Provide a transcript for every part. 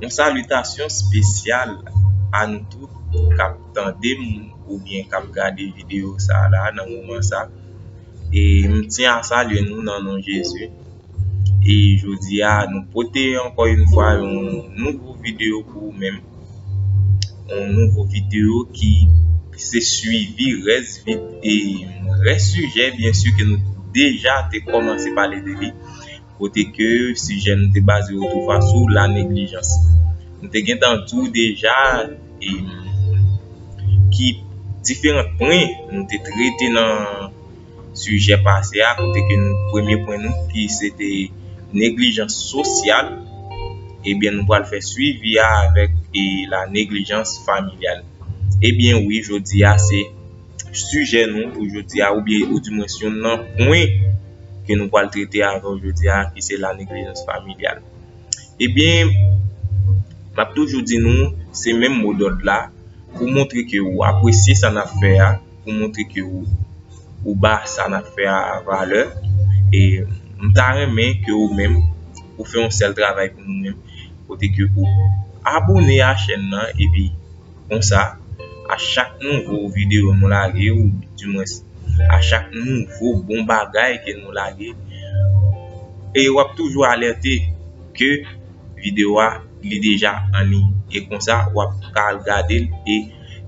Yon salitasyon spesyal a nou tout kap tande m ou byen kap gade videyo sa la nan moman sa e m tiyan salye nou nan non Jezi. e jodi a nou pote ankò yon fwa yon nouvo video pou ou menm yon nouvo video ki se suivi rès e rès sijè byen si ke nou deja te kòmanse pale de li kote ke sijè nou te baze yo tou fwa sou la neglijans nou te gen tan di w deja e ki diferan pwen nou te trete nan sijè pase a kote ke nou premye pwen nou ki se te neglijans sosyal ebyen nou pral fè swivi a avèk e la neglijans familyal ebyen wi jodi a se sijè nou pou jodi a oubyen ou di mwen yon nan pwen ke nou pral trete avèw jodi a ki se la neglijans familyal ebyen map toujou di nou se menm mo dòd la pou montre ke ou apresye sa nap fè a. pou montre ke ou ba sa n ap fè a valè e m ta renmen ke ou menm ou fè yon sèl travay pou nou menm kote ke ou abone a chèn nan epi konsa a chak nouvo videyo nou lage ou di mwens a chak nouvo bon bagay ke nou lage e w ap toujou alète ke videyo a li deja an liy e konsa wap ka al gadel e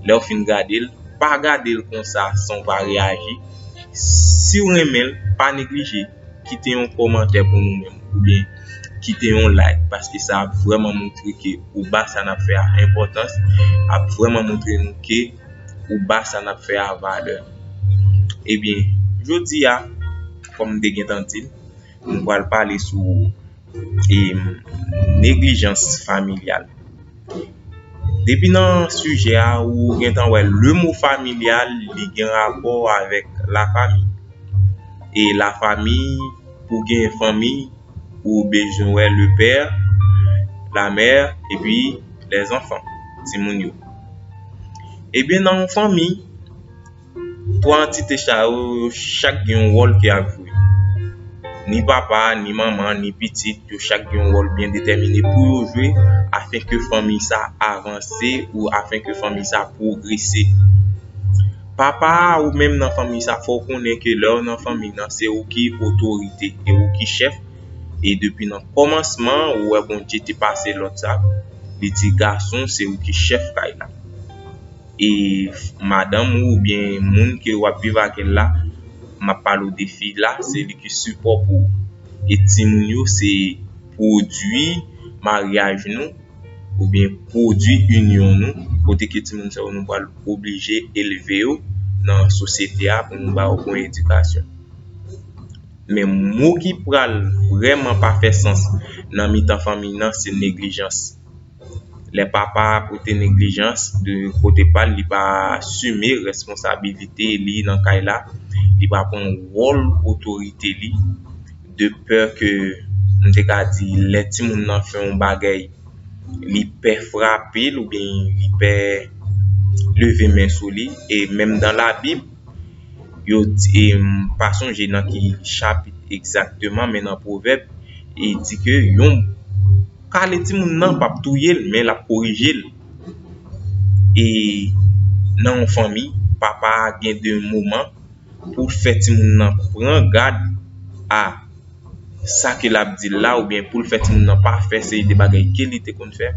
lèw fin gadel pa gadel konsa san w pa reyaji siw renmenl pa neglije kite yon kòmantè pou nou menm oubyen kite yon like paske sa ap vrèman moutre ke ou ba sa nap fè a enpòtans ap vrèman moutre nou ke ou ba sa nap fè a valè ebyen jodi a kòm m te gentan dil. Nou pral pale sou neglijans familyal. Depi nan sijè a ou gentan wè le mo familyal li gen rapò avèk lafami. E lafami pou w gen fanmi ou bezwen wè le pè, la mè epi lèzanfan, timoun yo. Ebyen nan yon fanmi Twa antite sa yo, yo chak gen yon wòl ki ap jwe. Ni papa, ni manman, ni pitit, yo chak gen yon wòl byen detèmine pou yo jwe afin ke fanmi sa avanse ou afin ke fanmi sa pwogrese. Papa a ou menm nan fanmi sa fò ou konnen ke lè ou nan fanmi nan se ou ki otorite, se ou ki chèf e depi nan kòmansman ou wè Bondye te pase lòd sa, li di gason se ou ki chèf kay la. e madanm ou oubyen moun ke wap viv avèl la map pale ou de fi la se li ki sipò pou ou e timoun yo se pwodwi maryaj nou oubyen pwodwi inyon nou kote ke timoun sa yo nou pral oblije elve yo nan sosyete a pou nou ba yo bon edikasyon men mo ki pral vreman pa fè sans nan mitan fanmiy nan se neglijans Lè papa a pote neglijans de kote pa l, li pa asime responsabilite li nan kay la, li pa pran wòl otorite li de pè ke m te ka di lè timoun nan fè yon bagèy li pè frape l oubyen li pè leve men sou li e menm dan labib yo di m pa sonje nan ki chapit egzakteman men nan pwovèb e di ke yon kale timoun nan pap touye l men lap korije l e nan yon fanmi papa gen de moman pou l fè timoun nan pran gad a sa ke lap di la oubyen pou l fè timoun nan pa fè seri de bagay ke li te konn fè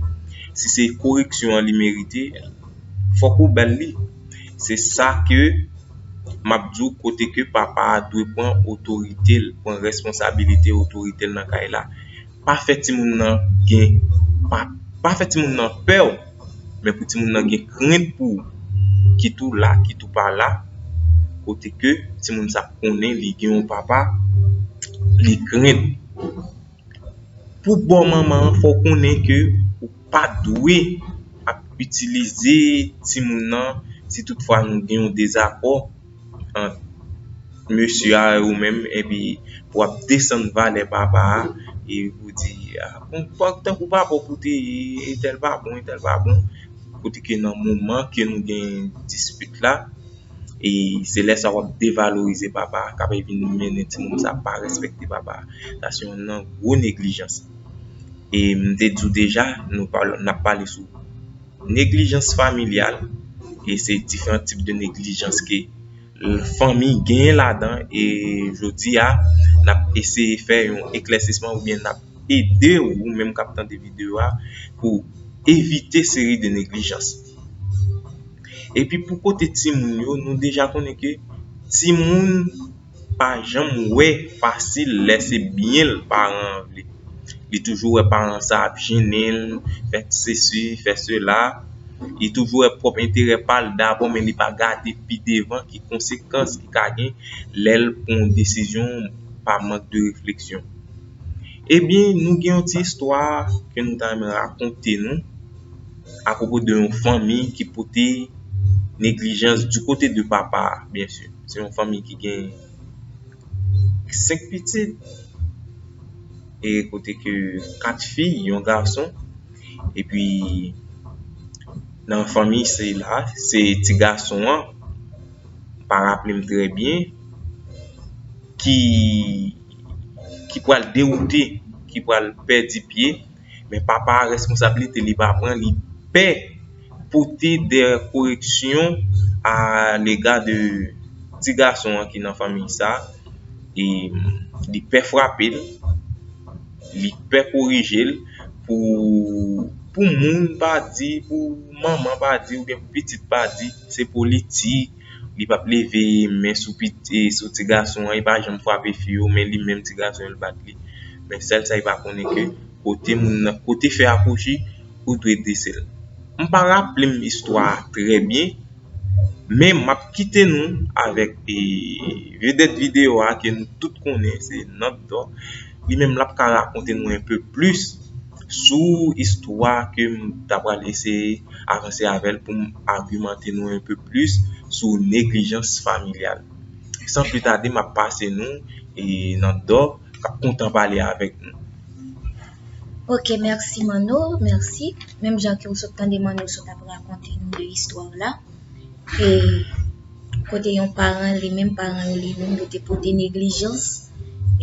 si se koreksyon an li merite fòk ou bal li se sa ke map di w kote ke papa dwe pran otorite l pran responsabilite otorite l nan kay la Pa fè timoun nan gen Pa fè timoun nan pè w men pou timoun nan gen krent pou ou kit ou la kit ou pa la kote ke timoun sa konnen li gen yon papa li krent pou bò manman an fò w konnen ke ou pa dwe ap itilize timoun nan si tout fwa nou gen yon dezakò ant mesye a e ou menm epi ou ap desann valè papa a e ou di tankou papa ou pou te ye entèl pa bon entèl pa bon kote ke nan moman ke nou gen dispit la e se lè sa ou ap devalorize papa a kap vin mennen timoun sa pa respekte papa a sa se youn nan gwo neglijans e m te di w deja nou nap pale sou Neglijans familyal e se diferan tip de neglijans ke fanmi genyen ladan e jodi a n ap eseye fè yon eklèsisman oubyen n ap ede w ou menm k ap tande videyo a pou evite seri de neglijans epi pou kote timoun yo nou deja konnen ke timoun pa janm wè fasil lè se byen l paran an vle li toujou wè paran sa ap jennen l fè sesi fè sela li toujou wè pwòp enterè pa l dabò men li pa gade pi devan ki konsekans ki ka gen lè l pran yon desizyon pa mank de refleksyon ebyen nou gen yon ti istwa ke nou ta renmen rakonte nou Apwopo de yon fanmi ki pote neglijans di kote de papa a, byen si. Se yon fanmi ki gen 5 pitit e kote ke 4 fi, yon gason. E pi nan fanmi se la, se ti gason an, m pa raple m trè byen, ki pral dewoute, ki pral pèdi pye. Men papa a responsabilite li pa pran li pè pote dè koreksyon a lega de ti gason an ki nan fanmi sa e li pè frape l li pè korije l pou moun pa di pou manman pa di oubyen pou pitit pa di se politik Li pap leve men sou piti sou ti gason an, li pa janm frape fi yo men li menm ti gason yo li bat li. Men sèl sa li pa konnen ke kote moun nan, kote fè a kouchi, ou dwe desel. M pa raplem istwa a trè byen, men map kite nou avèk vedèt videyo a ke nou tout konnen se Nandor, li menm lap ka rakonte nou enpe plis. sou istwa ke m ta pral eseye avanse avè l pou m agimante nou un peu plis sou neglijans familyal san pli tade m ap pase nou nan Dò k ap kontan pale avèk nou. Ok merci Manno merci menm jan ke w sot tande Manno sot ap rakonte nou istwa w la e. kote yon paran li menm paran yo li menm yo te pote neglijans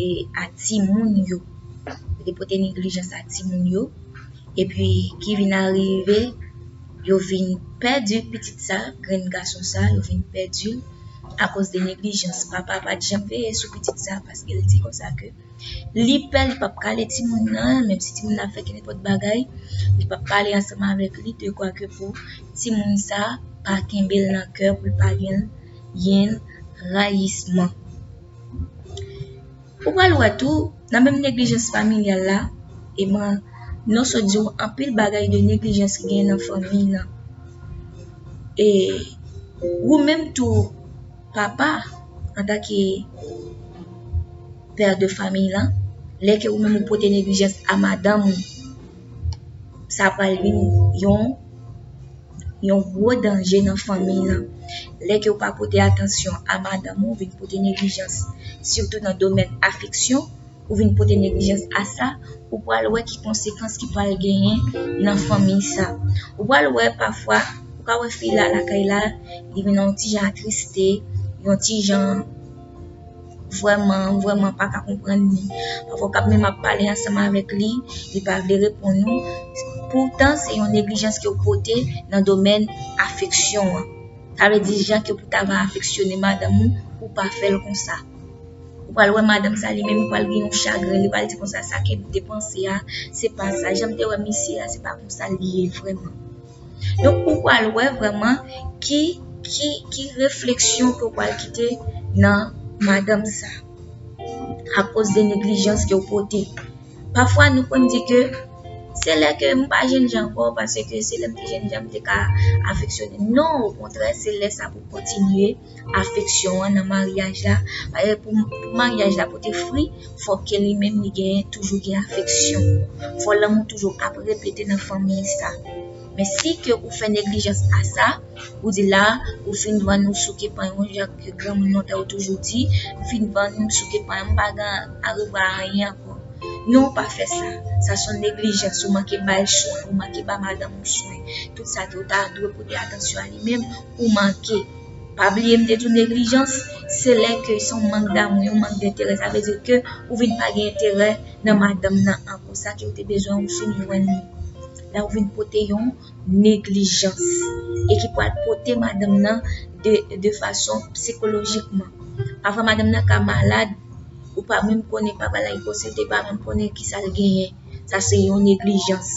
e a timoun yo yo te pote neglijans a timoun yo epi ki vin arive yo vin pèdi pitit sa grenn gason sa yo vin pèdi akoz de neglijans papa pa t janm veye sou pitit sa paske l di konsa ke Li pè li pap kale timoun nan, menm si timoun nan ap fè ki nenpòt bagay, li pap pale ansanm avèk li de kwa ke pou timoun sa pa kenbe l nan kè pou l pa gen yen rayisman. Ou pral wè tou nan menm neglijans familyal la, e mwen non sot di ou anpil bagay de neglijans ki gen nan fanmiy nan. E ou menm tou papa antan ke père de famille lan, lè ke ou menm ou pote neglijans a madanm ou, sa pral vin yon yon gwo danje nan fanmi lan. Lè ke ou pa pote atansyon a madanm ou, ou vin pote neglijans sitou nan domèn afeksyon, ou vin pote neglijans a sa, ou pral wè ki konsekans ki pral genyen nan fanmiy sa. Ou pral wè pafwa, ou ka wè fi la lakay la, li vin yon ti jan atriste, yon ti jan vrèman, vrèman pa ka konprann li. Pafwa ou ka menm ap pale ansanm avèk li, li pa vle reponn ou. Poutan se yon neglijans ke ou pote nan domèn afeksyon an. Sa vle di jan ke pou ta va afeksyone madanm ou, ou pa fèl konsa. Ou pral wè madanm sa li menm li pral gen yon chagren, li pral di konsa sa kep depanse a, se pa sa janm te wè misye a se pa konsa li ye vreman. Donk ou pral wè vreman ki ki ki refleksyon ke ou pral kite nan madanm sa. A koz de neglijans ke ou pote. Pafwa nou konn di ke se lè ke m pa jenn jan anko pase ke se lè m te jenn jan m te ka afeksyone. Non, o kontrè se lè sa pou kontinye. afeksyon an nan maryaj la, paske pou maryaj la pote fri, fò ke li menm li gen toujou gen afeksyon. Fò lanmou toujou ap repete nan fanmiy sa. Men si ke ou fè neglijans a sa, ou di la, ou fin vann ou souke pan yon jan ke granmoun nan tè ou toujou di, m fin vann ou, m souke pan an, m pa gen arevwa a anyen ankò. Non ou pa fè sa. Sa s on neglijans, ou manke bay swen, ou manke ba madanm ou swen. Tout sa ke ou ta dwe pote atansyon a li menm. ou manke pa bliye m te di w neglijans se lè ke son mank damou yon mank denterè sa vle di ke ou vin pa gen enterè nan madanm nan ankò sa ke ou te bezwen ou fin jwenn li la ou vin pote yon neglijans e ki pral pote madanm nan de fason psikolojikman pafwa madanm nan ka malad ou pa menm konnen pa balay konsete pa menm konnen ki sa l genyen sa se yon neglijans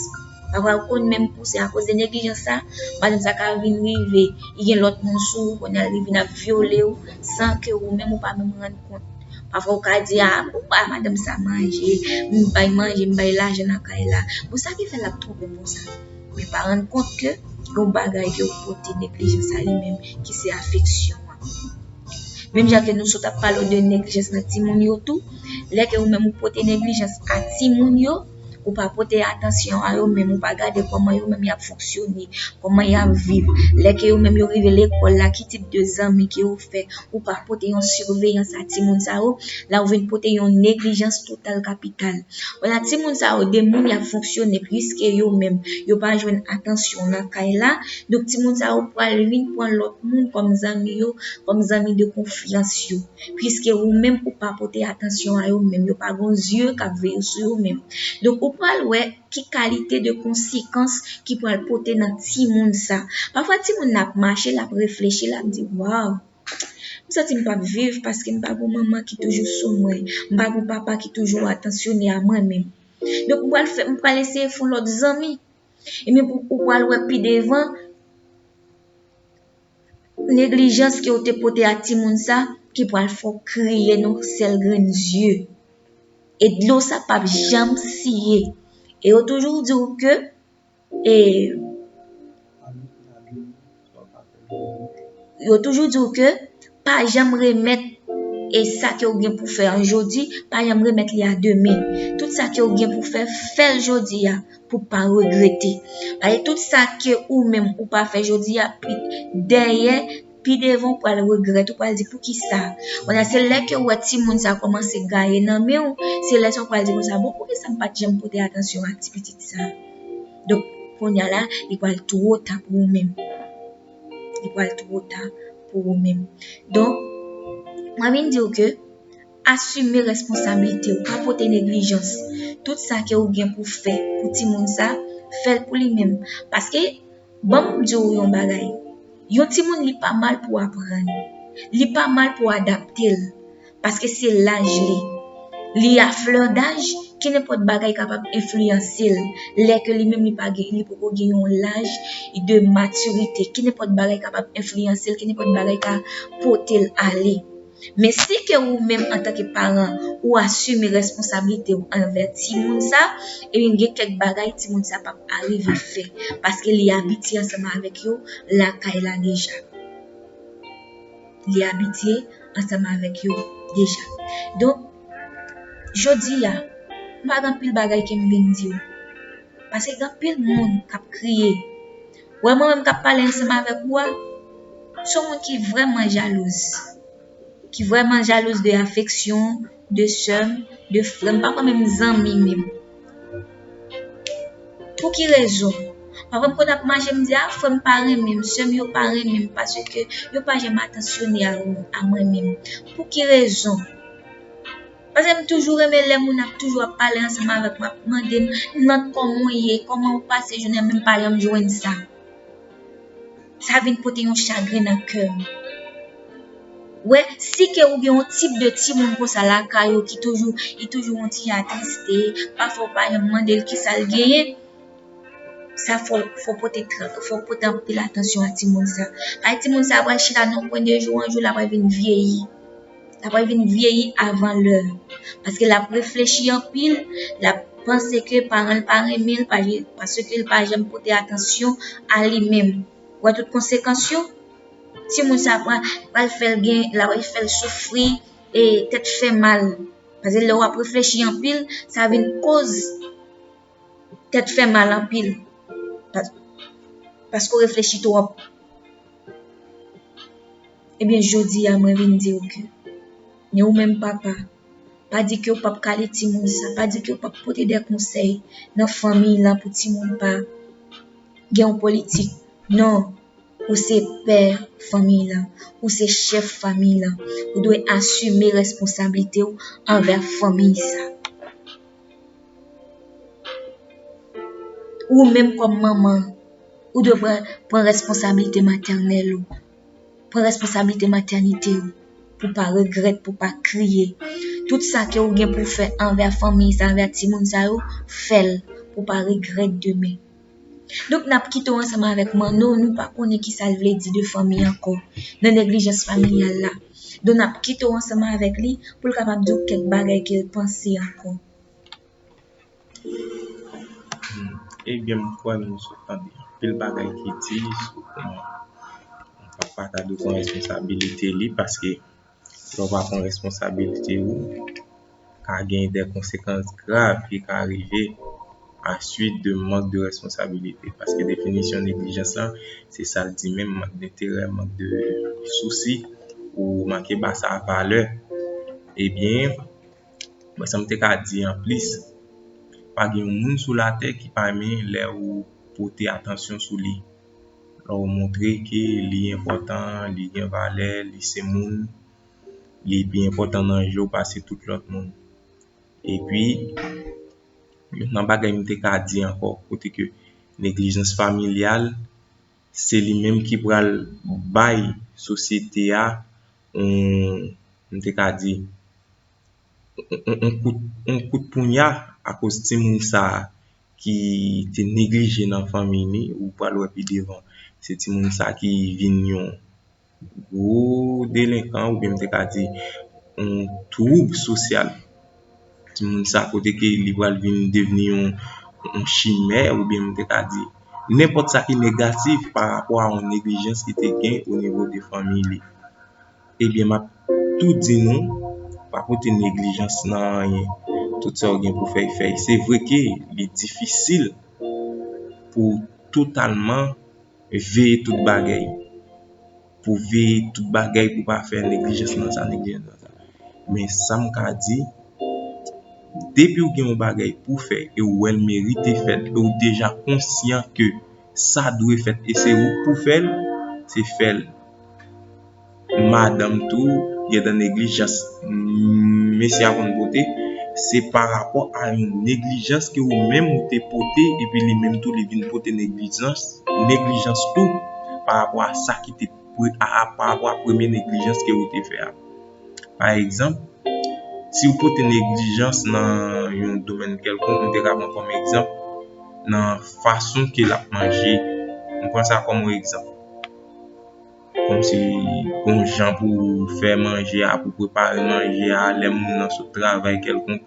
Sa pral konn menm pou se akoz de neglijans sa, madanm sa ka vin rive li gen lòt moun sou ou kounye a li vin ap vyole ou san ke ou menm ou pa menm rann kont. Pafwa ou ka di a, m bay madanm sa manje, m bay manje, m bay lajan nan kay la. Bon sa ki fè l ap twonpe m konsa? Men pa rann kont ke yon bagay ke ou pote neglijans a li menm ki se afeksyon an. Menm jan ke nou sot ap pale de neglijans nan timoun yo tou, lè ke ou menm ou pote neglijans a timoun yo, Ou pa pote atansyon a yo menm, ou pa gade kòman yo menm y ap fonksyone, kòman y ap viv. Lè ke yo menm yo rive lekòl la, ki tip de zanmi ke yo fè, ou pa pote yon siveyans a timoun sa yo, la ou vin pote yon neglijans total kapital. Wè la timoun sa yo de moun y ap fonksyone piske yo menm yo pa jwenn atansyon nan kay la, donk timoun sa yo pral vin pran lòt moun kòm zanmi yo, kòm zanmi de konfyans yo. Piske ou menm ou pa pote atansyon a yo menm, yo pa gon zye k ap veye sou yo menm. Donk ou pral wè ki kalite de konsekans ki pral pote nan timoun sa. Pafwa timoun nan ap mache, l ap reflechi, l ap di waw, m santi m p ap viv paske m pa gon manman ki toujou sou mwen, m pa gon papa ki toujou atansyone a mwen menm. Donk m pral eseye fon lòt zanmi. Epi ou pral wè pi devan. Neglijans ke ou te pote a timoun sa ki pral fè w kriye nan sèl grenn zye. E dlo sa pap janm siye. E yo toujou di ou ke e yo toujou di ou ke pa janm remèt e sa ke ou gen pou fè an jodi, pa janm remèt li a demen. Tout sa ke ou gen pou fè, fè l jodi a. pou pa regrete. Pale tout sa ke ou menm ou pa fè jodi a pi dèyè, pi devan ou pral regrèt, ou pral di pou ki sa. Wala se lè ke ou wè ti moun sa kòmanse gaye nan men ou, se lè sa ou pral di pou sa, bon pou ki sa m pat janm pote atansyon ak ti pitit sa. Donk, konya la, li pral two ta pou ou menm. Li pral two ta pou ou menm. Donk, mwen vin di ou ke, Asime responsablitew pa pote neglijans tout sa ke ou gen pou fè pou timoun sa fèl pou li menm paske banm diw yon bagay yon timoun li pa mal pou aprann li pa mal pou adaptel paske se laj li li a fleur daj ke nenpòt bagay kapab enfliyansel lè ke li menm li pa gen li poko gen yon laj de matirite ke nenpòt bagay kapab enfliyansel ke nenpòt bagay ka potel ale. Men si ke ou menm antanke paran ou asime responsablite ou anvè timoun sa, ebyen gen kèk bagay timoun sa pap arive fè paske li abitye ansanman avèk yo lakay la deja. Li abitye ansanman avèk yo deja. Donk, jodi a, m pa gen anpil bagay ke m vin di ou. Paske gen anpil moun k ap kriye. Wè mwen menm kap pale ansanm avèk ou a, son moun ki vrèman jalouz, ki vrèman jalouz de afeksyon, de sèm, de frèm, pa kwè menm zanmi menm. Pou ki rezon? Pafwa m konn ap mache m di a frèm pa renmenm, sèm yo pa renmenm paske yo pa janm atansyone a mwen menm. Pou ki rezon? Paske m toujou renmen lè moun ap toujou ap pale ansanm avèk mwen, ap mande m, Nant kòman w ye, kòman w pase jounen an, menm pa lè m jwenn sa. Sa vin pote yon chagren nan kè m. Wè, si ke ou gen yon tip de timoun konsa lakay ou ki toujou, li toujou yon ti jan atriste, pafwa ou pa janm mande l kisa l genyen, sa fò w pote trè, fò w pote anpil atansyon a timoun sa. Paske timoun sa a pral chita nan yon kwen de jou an jou l apral vin vyeyi. la pral vin vyeyi avan lè paske lap reflechi anpil lap panse ke paran l pa renmen l paske l pa janm pote atansyon a li menm wè tout konsekans yo timoun sa pral fèl gen la pral fèl soufri e tèt fè mal paske lè wap reflechi anpil sa vin koz Tèt fè mal anpil. Paske ou reflechi twòp. Ebyen jodi a mwen vin di ou ke. Ni ou menm papa. Pa di ke ou pap kale ti moun sa. Pa di ke ou pap pote de konsey. Nan fanmiy la pou ti moun pa. Gen yon politik. Non. Ou se pè fanmiy la. Ou se chef fanmiy la. Ou dwe asime responsabilite ou anver fanmiy sa. Ou menm kòm manman, ou dwe pran responsabilite matènèl ou, pran responsabilite matènite ou, pou pa regrèt, pou pa kriye. Tout sa ke ou gen pou fè anvè fanmi sa, anvè timoun sa yo, fè l, pou pa regrèt demen. Donk nap kite w ansanm avèk Manno nou pa konnen kisa l vle di de fanmi ankò nan neglijans familyal la. Donk nap kite w ansanm avèk li pou l kapab di w kèk bagay ke l panse ankò. Ebyen m kwè nou sot tande anpil bagay ki di sou kòman yon papa ta dwe pran responsabilite li paske Lè w pa pran responsabilite ou, ka gen de konsekans grav ki ka rive a suit de mank de responsabilite. Paske definisyon neglijans la, se sa l di menm, mank d'enterè, mank de sousi, ou manke ba sa valè. Ebyen, mwen sa m te ka di an plis, pa gen yon moun sou latè ki pa renmen lè ou pote atansyon sou li. Lè w montre ke li enpòtan, li gen valè, li se moun, li pi enpòtan nan je w pase tout lòt moun. Epi, youn nan bagay m te ka di ankò, kote ke neglijans familyal, se li menm ki pral bay sosyete a yon, m te ka di, yon kout, yon kout pounya akoz timoun sa a. ki te neglije nan fanmi li, ou pral wè pi devan se timoun sa ki vin yon gwo delenkan oubyen m te ka di yon twoub sosyal. Timoun sa kote ke li pral vin devni yon chimè oubyen m te ka di nenpòt sa ki negatif pa rapò a yon neglijans ki te gen o nivo de fanmi li. Ebyen map tou di nou pa pote neglijans nan anyen tout sa ou gen pou fèy fèy se vre ke li difisil pou totalman veye tout bagay pou veye tout bagay pou pa fè neglijans nan sa neglijans nan sa men sam ka di depi ou gen yon bagay pou fè e ou wèl merite fèt e ou deja konsyan ke sa dwe fèt e se ou k pou fèl se fèl. madanm tou gentan neglijans mesye a konn pote se pa rapò a yon neglijans ke ou menm ou te pote epi li menm tou li vin pote neglijans neglijans tou pa rapò a sa ki te pa rapò a premye neglijans ke ou te fè a pa egzanp si ou pote neglijans nan yon domèn kèlkonk nou te ka pran kòm egzanp nan fason ke l ap manje nou pran sa kòm yon egzanp Kòm se yon jan pou fè manje a, pou prepare manje a, lè moun nan sot travay kèlkonk.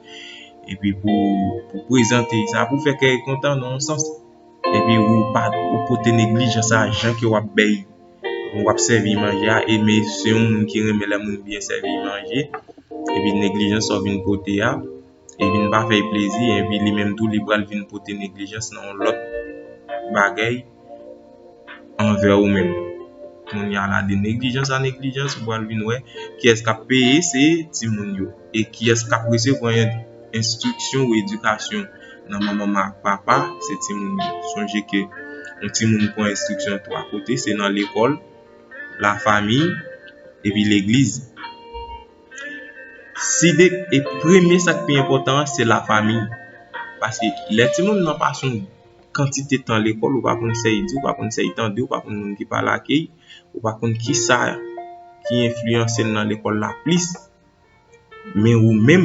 Epi pou prezante sa, pou fè kè kontan nan yon sans. Epi ou pa pote neglijan sa jan ke w ap bèy, w ap sèvi manje a. E men se yon moun ki renmen lè moun byen sèvi manje. Epi neglijans sa w vin pote a. e vin pa fèy plezi epi li menm tou li pral vin pote neglijans nan yon lòt bagèy anvè ou menm kounya la de neglijans a neglijans ou pral vin wè kiyès kap peye se timoun yo e kiyès kap resevwa enstriksyon ou edikasyon nan manman ak papa se timoun yo sonje ke yon timoun pran enstriksyon 3 kote se nan lekòl la famiy epi legliz. Side e premye sak pi enpotan an se la fami Paske lè ti moun nan pa sou kantite tan lekòl ou pa konn sa yi di ou pa konn sa yi tande ou pa konn moun ki pale ak li ou pa konn ki sa ki enfliyanse l nan lekòl la plis men ou menm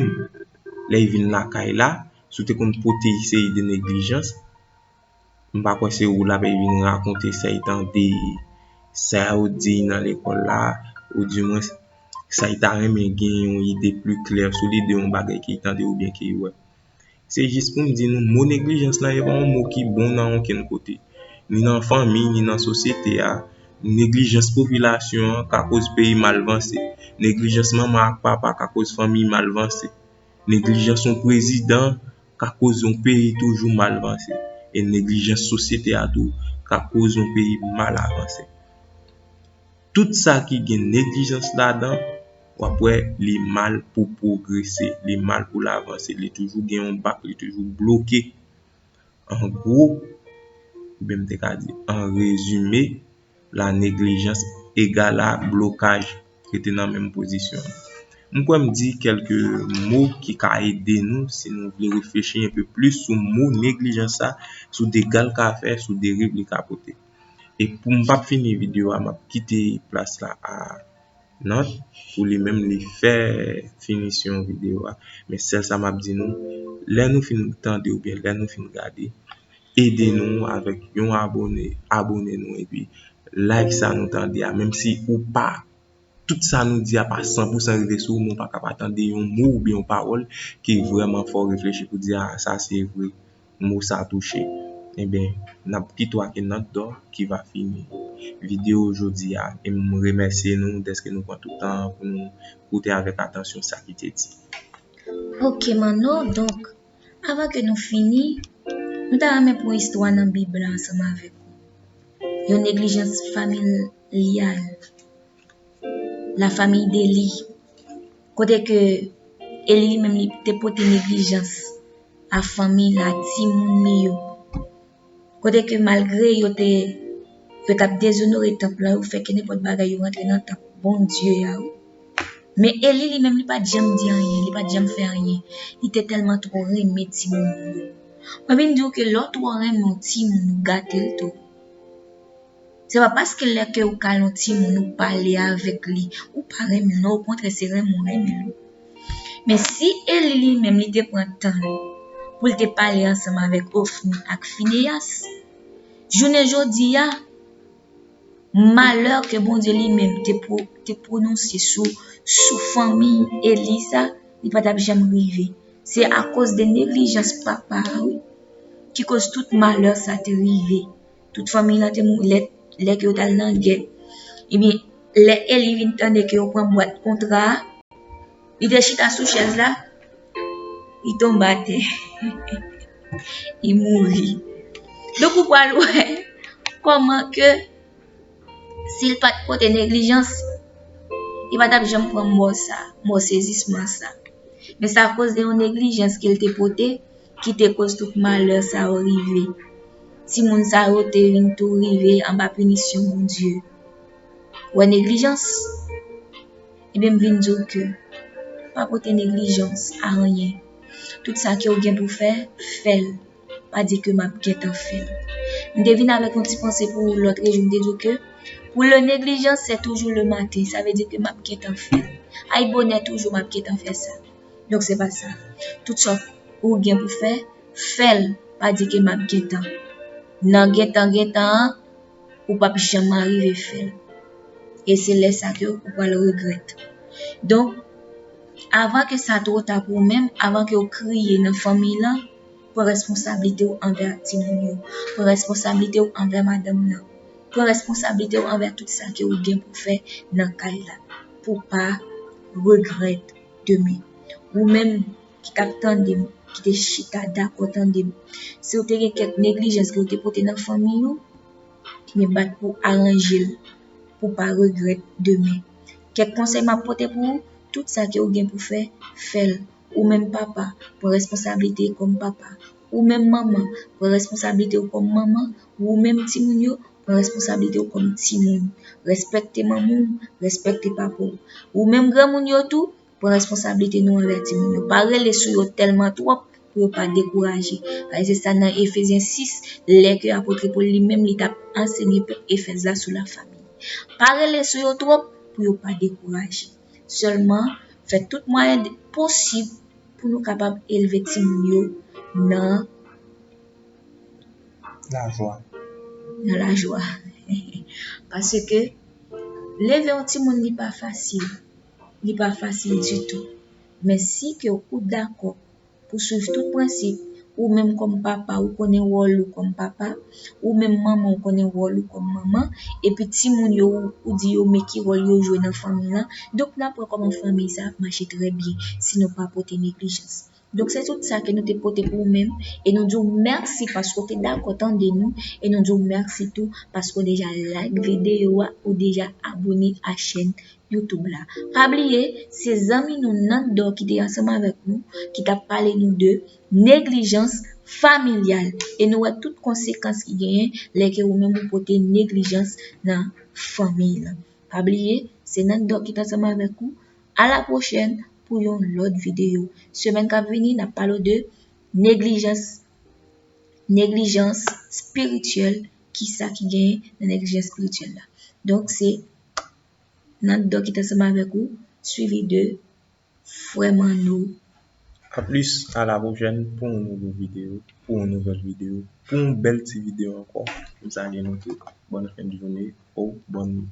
lè yi vin lakay la si w te konn pote yi seri de neglijans m pa kwè se ou l ape vin rakonte sa y tande sa yo di nan lekòl la ou di mwen sa y ta renmen gen yon ide pli klè sou li de yon bagay ki tande oubyen ki wè se jis pou m di nou mo neglijans la e pa yon mo ki bon nan okenn kote ni nan fanmi ni nan sosyete a neglijans popilasyon an ka koz peyi mal vanse neglijans manman ak papa ka koz fanmi mal vanse neglijans yon prezidan ka koz yon peyi toujou mal vanse e neglijans sosyete a tou ka koz yon peyi mal avanse tout sa ki gen neglijans ladan wap wè li mal pou pwogrese li mal pou l avanse li toujou gen yon bak li toujou bloke an gwo oubyen m te ka di an rezime la neglijans egal a blokaj rete nan menm pozisyon m kwè m di kelke mo ki ka ede nou si nou vle reflechi enpe plis sou mo neglijans sa sou dega l ka fè sou deriv li ka pote e pou m pa fini videyo a m ap kite plas la a Not, pou li menm li fè finisyon videyo a. Men sèl sa m ap di nou, lè nou fin tande oubyen lè nou fin gade, ede nou avèk yon abone, abone nou epi like sa nou tande a. Menm si ou pa, tout sa nou di a pa san pou san rive sou ou, men ou pa ka pa tande yon mo oubyen yon pawòl ki vrèman fè w reflechi pou w di a sa se vre. mo sa touche enben nap pito ak yn not dò ki va fini video jodi a e m remèsye nou dèske nou pran tout tan pou nou koute avèk atansyon sa ki te di. Ok Manno donk avan ke nou fini nou ta renmen pran yon istwa nan bib la ansanm avèk ou yon neglijans famil lyal. La famille Dely, kote ke Eli li menm li te pote neglijans a fanmi l, a timoun li yo. Kote ke malgre yo te, yo t ap dezonore tanp lan, yo fè ke nenpòt bagay yo rantre nan tanp Bondye a, men Eli li menm li pa t janm di anyen, li pa t janm fè anyen, li te tèlman twò renmen timoun li yo. Mwen vin di ou ke lè w twò renmen yon timoun ou gate l tou. Se pa paske lè ke ou kale yon timoun ou pale avèk li, ou pa renmen l non, okontrè se renmen ou renmen l. Men si Eli li menm li te pran tan l pou l te pale ansanm avèk Ofni ak Fineyas, jounen jodi a, malè ke Bondye li menm te pwononse sou fanmi Eli sa, li pa t ap janm rive. Se akoz de neglijans papa a wi ki koz tout malè sa te rive. Tout fanmiy lan te mouri lè lè ke yo tal nan gè. Ebyen, lè Eli vin tande ke yo pran bwat kontra a, li te chita sou chèz la, li tonbe atè. Li mouri. Donk ou pral wè kòman ke Si l pa t pote neglijans, li pa t ap janm pran mò sa, mò sezisman sa. Men se akoz de yon neglijans ke l te pote ki te koz tout malè sa yo rive. Timoun sa yo te vin tou rive anba pinisyon Bondye. Ou wè neglijans? Ebyen m vin di w ke pa pote neglijans a anyen. Tout sa ke ou gen pou fè, fè l. pa di ke map gentan fèl. M te vin avèk yon ti panse pou lòt rejim m te di ke pou le neglijan se toujou le maten sa vle di ke map gentan fèl. Ay bonè toujou map gentan fè sa. Donk se pa sa. Tout sa ou gen pou fè, fèl pa di ke map gentan. Nan gentan gentan an ou pap janm arive fèl. E se lè sa ke ou pral regrèt. Donk avan ke sa two ta pou ou menm, avan ke ou kriye nan fanmiy lan, Pran responsablite ou anvè ak timoun yo. Pran responsablite ou anvè madanm nan. Pran responsablite ou anvè tout sa ke ou gen pou fè nan kay la. Pou pa regrèt demen. Ou menm ki tap tande m, ki te chita dakò tande m. Si ou te gen kèk neglijans ke ou te pote nan fanmi ou, men bat pou aranje l. Pou pa regrèt demen. Kèk konsèy map pote pou ou, tout sa ke ou gen pou fè, fè l. Ou menm papa, pran responsablite kòm papa. Ou menm manman, pran responsablite ou kòm manman. Ou menm timoun yo, pran responsablite ou kòm timoun. Respekte manman w, respekte papa w. Ou menm granmoun yo tou, pran responsablite nou anvè timoun yo. Pa rele sou yo tèlman twòp pou yo pa dekouraje. Paske se sa nan Efezyen 6, lè ke apotre Pòl li menm li t ap ansenye pèp Efèz la sou lafami. Pa rele sou yo twòp pou yo pa dekouraje. Sèlman, fè tout mwayen posib pou nou kapab elve timoun yo nan lajwa. Nan lajwa. Paske, leve yon timoun li pa fasil. Li pa fasil ditou. Men si ke ou dakò pou swiv tout prensip, ou menm kòm papa ou konnen wòl ou kòm papa, ou menm manman ou konnen wòl ou kòm manman, epi timoun yo ou di yo men ki wòl yo jwe nan fanmi lan, donk nou ap wè kòman fanmi sa ap mache trè byen si nou pa pote neglijans. Donk se tout sa ke nou te pote pou ou menm e nou di w mèsi paske ou te dakò tande nou e nou di w mèsi tou paske ou deja like videyo a, ou deja abone a chèn YouTube la. Pa bliye, se zanmi nou Nando ki te ansanm avèk nou ki tap pale nou de neglijans familyal e nou wè tout konsekans ki genyen lè ke ou menm ou pote neglijans nan fanmiy lan. Pa bliye, se Nando ki te ansanm avèk ou. A la pwochèn pou yon lòt videyo. Semèn kap vini nap pale ou de neglijans neglijans spirityèl, kisa ki genyen nan neglijans spirityèl la. Donk se Nan dò ki t ansanm avèk ou, suivi de Frè Manno. A plis a la pwochèn pou yon nouvo video, pou yon nouvèl video, pou yon bèl ti video ankò m salye nou tout bòn fen de joune ou bòn nwit.